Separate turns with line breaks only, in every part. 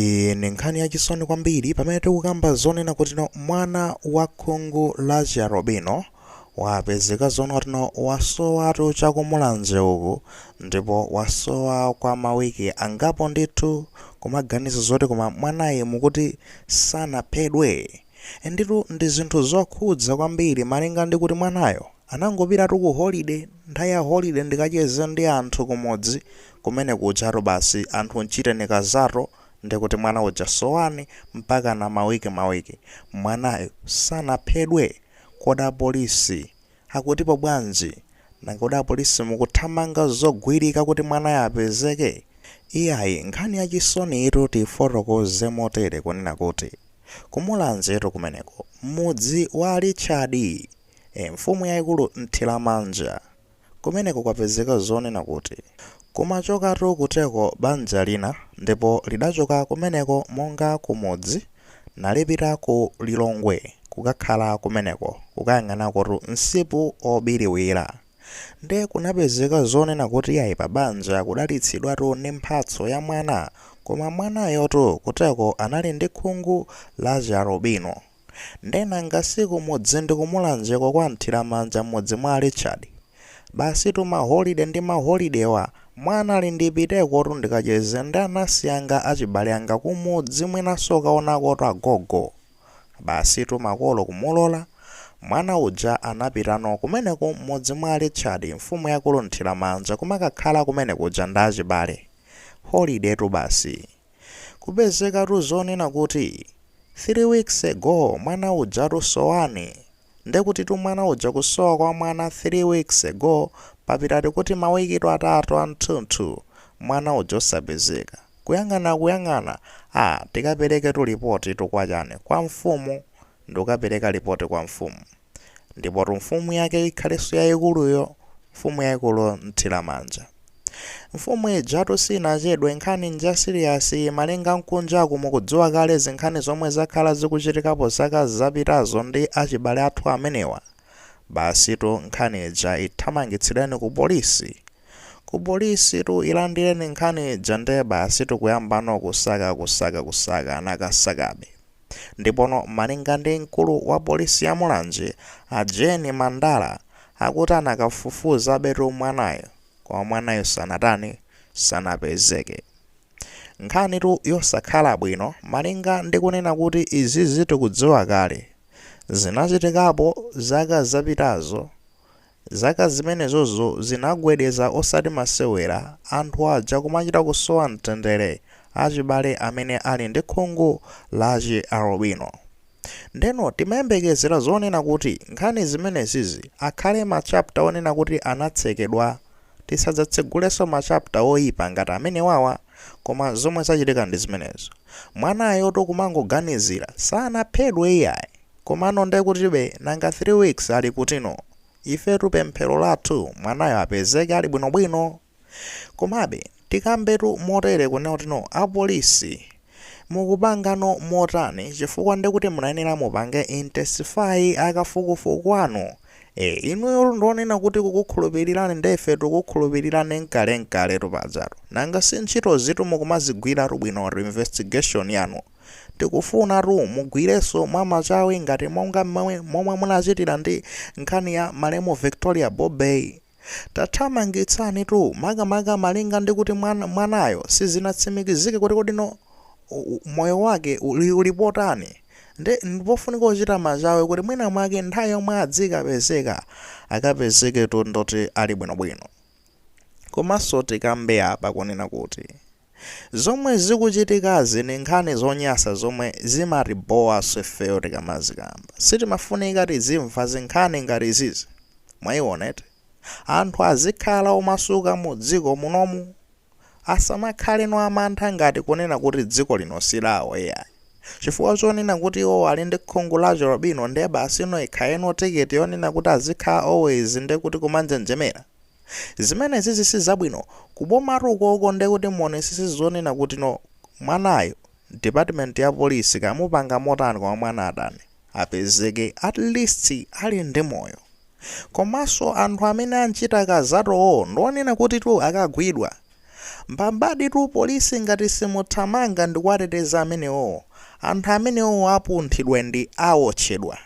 Iyi ndi nkhani yachisoni kwambiri pamene tikukamba zonena kutino mwana wa khungu la chialubino wapezeka zonena kutino wasowatu cha ku Mulanje uku ndipo wasowa kwa mawiki angapo ndithu kumaganiza zoti koma mwanayu mukuti sanaphedwe? Nditutu ndi zinthu zokhudza kwambiri malinga ndi kuti mwanayo Anangopitatu ku holiday, nthawi ya holiday ndikacheze ndi anthu kumudzi kumene kujatu basi anthu mchiteni kazato ndikuti mwana uja soweni mpakana mawiki mawiki. Mwanayu sanaphedwe? Kodi apolisi akutipo bwanji? Nanga kodi apolisi mukuthamanga zogwirika kuti mwanayo apezeke? Iyayi nkhani yachisoniyitu tiyifotokoze motere kunena kuti ku Mulanjetu kumeneku mmudzi wa Richard. e Mfumu yaikulu Mthiramanja. Kumeneko kwapezeka zonena kuti, Kumachokatu kuteko banja lina, ndipo lidachoka kumeneko monga kumudzi, nalipita ku Lilongwe kukakhala kumeneko, kukayang'anakotu msipu wobiriwira. Ndiye kunapezeka zonena kuti iyayi pabanja kudalitsidwatu ndi mphatso ya mwana, koma mwanayotu kuteko anali ndi khungu la chialubino. Nde nanga si kumudzi ndi ku Mulanjeko kwa Mthiramanja m'mudzi mwa a Richard? Basitu ma holide ndi ma holidewa, mwana ali ndipitekotu ndikacheze ndi anansi anga achibale anga kumudzi mwinanso kukaonakotu agogo. Basitu makolo kumulola, mwana uja anapitano kumeneko m'mudzi mwa a Richard, mfumu yaikulu Mthiramanja kumakakhala kumene kuja ndi achibale. Holidetu basi. kupezekatu zonena kuti 3 weeks ago mwana ujatu soweni nde kutitu mwana uja kusowa kwa mwana 3 weeks ago papita titi kuti mawikitu atatu athunthu mwana uja osapezeka kuyang'ana kuyang'ana aah tikapereketu lipotitu kwa chani kwa mfumu ndikukapereka lipoti kwa mfumu Ndipotu mfumu yake ikhalenso yayikuluyo, mfumu yayikulu Mthiramanja. Mfumu ijatu sinachedwe, nkhani nja siliyasi, malinga nkunjaku mukudziwa kale zinkhani zomwe zakhala zikuchitikapo zaka zapitazo ndi achibale athu amenewa. Basitu nkhani ija ithamangitsileni ku polisi. Ku polisitu ilandireni nkhani ija nde basitu kuyambano kusaka kusaka kusaka, anakasakabe. Ndipono malinga ndi mkulu wa polisi ya Mulanje a Jane Mandala akuti anakafufuzabetu mwanayo koma mwanayo sanatani sanapezeke. Nkhanitu yosakhala bwino malinga ndi kunena kuti izizi tikudziwa kale. Zinachitikapo zaka zapitazo Zaka zimenezozo zinagwedeza osati masewera, anthu aja kumachita kusowa mtendere, achibale amene ali ndi khungu la chi alubino. Ndeno timayembekezera zonena kuti nkhani zimenezizi akhale ma chapter onena kuti anatsekedwa? Tisadzatsegulenso ma chapter oipa ngati amenewawa? Koma zomwe zachitika ndi zimenezo. Mwanayo akuti kumangoganizira, sanaphedwe iyayi. Komano nde kutibe nanga 3 weeks ali kuti no? Ifetu pemphero lathu mwanayo apezeke ali bwino bwino. Komabe tikambetu motere kunena kuti no a police mukupangano motani chifukwa ndekuti munayenera mupange intensify akafukufuku anu. Eeh inuyotu ndionena kuti kukukhulupilirani nde ife tikukhulupilirani nkale nkaletu pajatu nanga si ntchitozitu mukumazigwiratu bwinotu investigation yanu. Tikufunatu mugwirenso mwa machawi ngati monga momwe munachitira ndi nkhani ya malemu Victoria Bobe. Tathamangitsani tu makamaka malinga ndi kuti mwana, mwanayo sizinatsimikizike kuti kodi no moyo wake uli, uli potani nde ndipofunika kuchita machawi kuti mwina mwake nthawi yomwe adzikapezeka akapezeke tu ndoti ali bwinobwino. Komanso tikambe apa kunena kuti. Zomwe zikuchitikazi ndi nkhani zonyasa zomwe zimatibhowaso ifeyo tikamazikamba. Sitimafunika tizimva zinkhani ngati izizi. Mwaiona eti. Anthu azikhala omasuka mu dziko munomu. Asamakhaleno amantha ngati kunena kuti dziko lino silawo iyayi. Chifukwa chonena kuti iwowo ali ndi khungu la chi alubino nde basi no ikhaleno ticket yonena kuti azikhala always ndekuti kumanjenjemera. Zimenezizi sizabwino, kubomatu ukoko nde kuti muonetsetse zonena kuti no mwanayo department ya police kaya mupanga motani koma mwana atani apezeke at least ali ndi moyo. Komanso anthu amene anchita kidnap-owo ndionena kutitu akagwidwa Mbambadi tu police ngati simuthamanga ndikuwateteza amenewowo anthu amenewowo apunthidwa ndi awotchedwa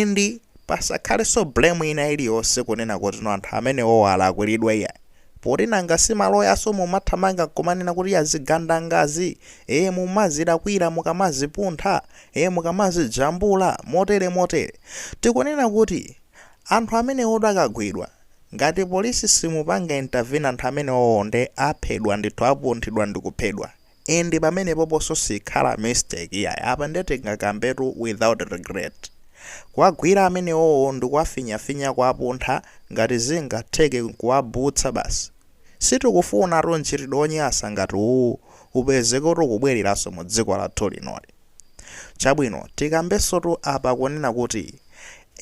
and pasakhalenso blame ina iliyonse kunena kuti no anthu amenewowo alakwilidwa iyayi poti nanga si maloyanso mumathamanga nkumanena kuti azigandangazi ee mumazilakwila mukamazipuntha ee mukamazijambula motere motere tikunena kuti anthu amenewotu akagwidwa Ngati police simupanga intervene anthu amenewowo nde aphedwa ndithu apunthidwa ndikuphedwa and pamenepoponso sikhala mistake iyayi apa nde tingakambetu without regret kuwagwira amenewowo ndikuwafinyafinya kuwapuntha ngati zingatheke nkuwabutsa basi sitikufunatu mchitidwe onyasa ngati uwuwu upezeke kuti ukubweleranso mu dziko lathu linoli. Chabwino, tikambensotu apa kunena kuti,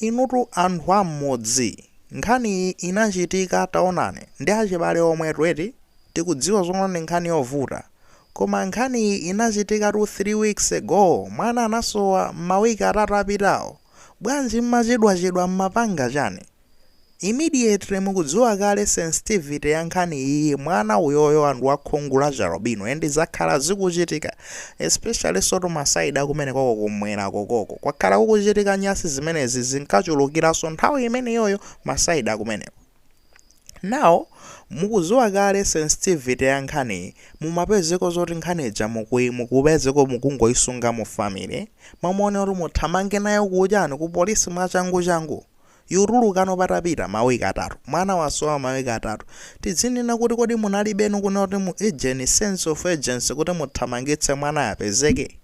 inutu anthu a mmudzi, nkhani iyi inachitika, taonani, ndi achibale omwetu eti, tikudziwa zoona ndi nkhani yovuta, koma nkhani iyi inachitikatu 3 weeks ago, mwana anasowa mawiki atatu apitawo, bwanji mmachedwachedwa mmapanga chani? Immediately mukudziwa kale sensitivity ya nkhani iyi mwana uyoyo and wa khungu la chialbino and zakhala zikuchitika especially sotu ma side a kumeneko ko kumwera kokoko kwakhala kukuchitika nyasi zimenezi zinkachulukiranso nthawi imeneyoyo ma side akumeneko now mukudziwa kale sensitivity ya nkhaniyi mumapezeko zoti nkhani ija mukupezeko mukungoyisunga mu family mmamaone kuti muthamange nayo kuchani ku polisi mwachangu changu yutulukano patapita ma week atatu mwana wasowa ma week atatu tidzinena kuti kodi munalibenu kunena kuti mu ujeni sense of urgency kuti muthamangitse mwana apezeke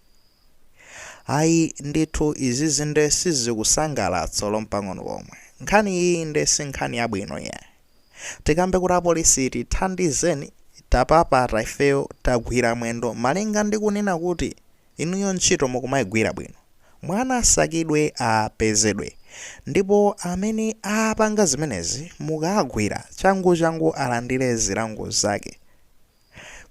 ayi ndithu izizi nde sizikusangalatsa lompang'ono pomwe nkhani iyi nde si nkhani yabwino iyayi tikambe kuti apolisi tithandizeni tapapata ifeyo tagwira mwendo malinga ndi kunena kuti Inuyo ntchito mukumaigwira bwino. Mwana asakidwe apezedwe. Ndipo amene apanga zimenezi mukaagwira changuchangu alandire zilango zake.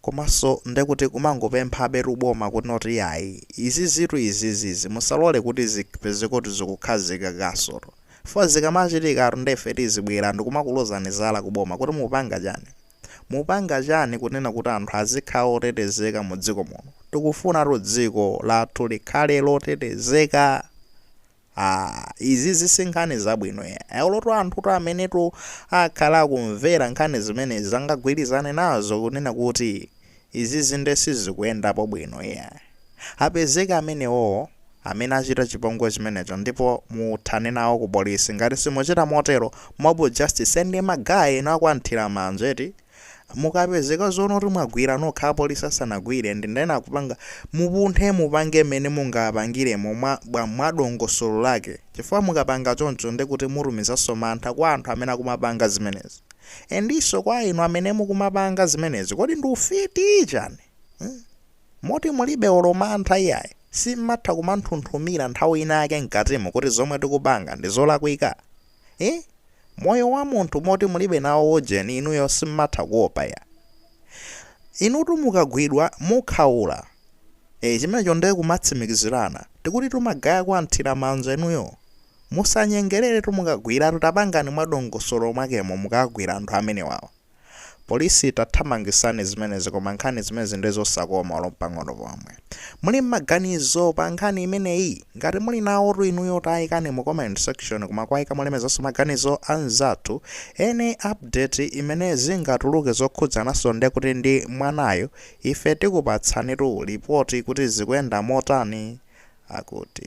Komanso ndekuti kumangopemphabetu boma kuti not iyayi izizitu izizi izi musalole kuti zipezekotu zikukhazikikasotu. Fo zikamachitikatu nde ife tizibwera ndikumakulozani zala ku boma kuti mukupanga chani. Mupanga chani kunena kuti anthu azikhala otetezeka mu dziko muno? Tikufunatu dziko lathu likhale lotetezeka aah izizi si nkhani zabwino yayi. Olotu anthutu amenetu akhala akumvera nkhani zimenezi angagwirizane nazo kunena kuti Izizi nde sizikuyendapo bwino iyayi. Apezeka amenewowo amene achita chipongwe chimenecho ndipo muthane nawo ku polisi. Ngati simuchita motero, mob justice nde ma guy inu a kwa Mthiramanja eti? Mukapezeka zoona kuti mwagwira nokha a polisi asanagwire ndi ndani akupanga, mupunthe mupange mmene mungapangiremo mwadongosolo lake chifukwa mukapanga choncho nde kuti mutumizanso mantha kwa anthu amene akumapanga zimenezi. Endiso kwa inu amene mukumapanga zimenezi kodi ndi ufiti chani hmm? Moti mulibe olo mantha iyayi simmatha kumanthunthumira nthawi inayake mkatimu kuti zomwe tikupanga ndizolakwika eh? Moyo wa munthu moti mulibe nawo ujeni inuyo simmatha kuopa ya inutu mukagwidwa mukhaula Eee chimenecho nde kumatsimikizirana. Tikutitu magaye kuwathira manja inuyo. Musanyengereretu mukagwiratu tapangani mwadongosolo mwakemo mukagwira anthu amenewawa. Police tathamangisani zimenezi koma nkhani zimenezi nde zosakoma olo mpang'ono pomwe. Muli mmaganizo pa nkhani imeneyi? Ngati muli nawotu inuyo tayikani mu comment section koma kwayika molemekezanso maganizo anzathu any update imene zingatuluke zokhudzananso ndekuti ndi mwanayu Ife tikupatsanitu lipoti kuti zikuyenda motani, akuti.